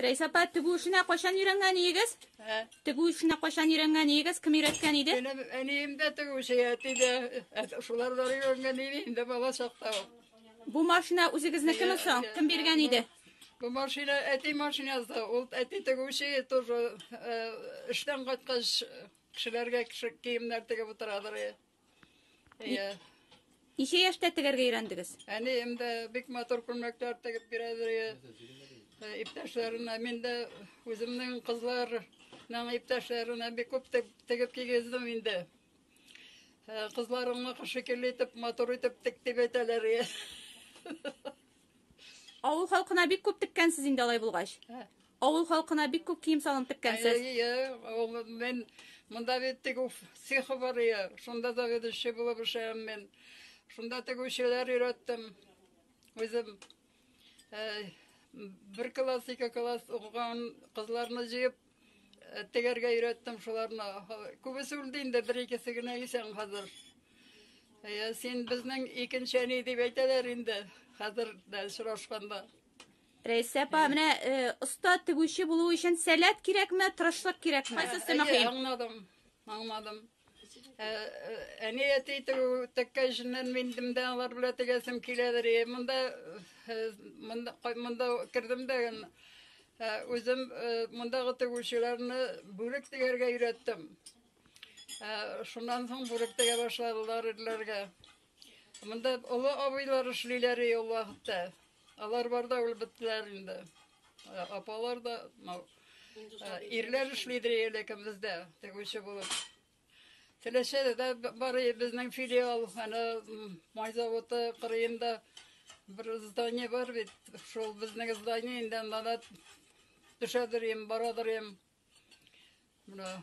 Рәйс апа, тегү эшенә кайчан өйрәнгән идегез? Ә? Тегү эшенә кайчан өйрәнгән идегез? Кем өйрәткән иде? Минем әнием дә тегү эше әти дә. Ә, Шулар да өйрәнгән иде инде бала чакта. ул. Бу машина үзегезнекеме соң? Кем биргән иде? Бу машина әти машинасы. Ул әти тегүче тоже э, эштән кайткач кешеләргә кеше- киемнәр тегеп утырадыр. э. Әйе. Ничә яшьтә тегәргә өйрәндегез? Әни инде бик матур күлмәкләр тегеп бирәдер. Э, иптәшләренә мин дә үземнең кызларның иптәшләренә бик күп тегеп кигездем инде. Э, кызларыңны шикелле итеп, матур итеп тек дип әйтәләр. Авыл халкына бик күп теккәнсез инде алай булгач. Ә. Авыл халкына бик күп кием салым теккәнсез. Әйе, мин монда бит тегү цехы бар ия. Шунда заведующий булып эшләгән мин. Шунда тегүчеләр өйрәттем. Үзем бер класс, ике класс укыган кызларны җыеп э, тегәргә өйрәттем шуларны. Күбесе үлде инде, бер икесе генә исән хәзер. Ә син безнең икенче әни дип әйтәләр инде хәзер дә очрашканда. Рәйсә апа, менә э, оста тегүче булу өчен сәләт кирәкме, тырышлык кирәкме? Кайсысы мөһим? Аңладым, аңладым. Э, э, әни әти теккә эшеннән мендем дә алар белән тегәсем киләдер. Монда монда монда кердем дә үзем мондагы тегүчеләрне бүрек тегәргә өйрәттем. Шуннан соң бүрек тегә башладылар ирләргә. Монда олы абыйлар эшлиләр ул вакытта. Алар бар да үлеп беттеләр инде. Ә, Апалар да, мал- ә, ирләр эшлидер әле кембездә, тегүче булып. Теләчәдә дә б- бар и- безнең филиал, ана м, май заводы кырыенда бер здание бар бит. Шул безнең здание инде анда да төшәдер ем, барадыр ем. Менә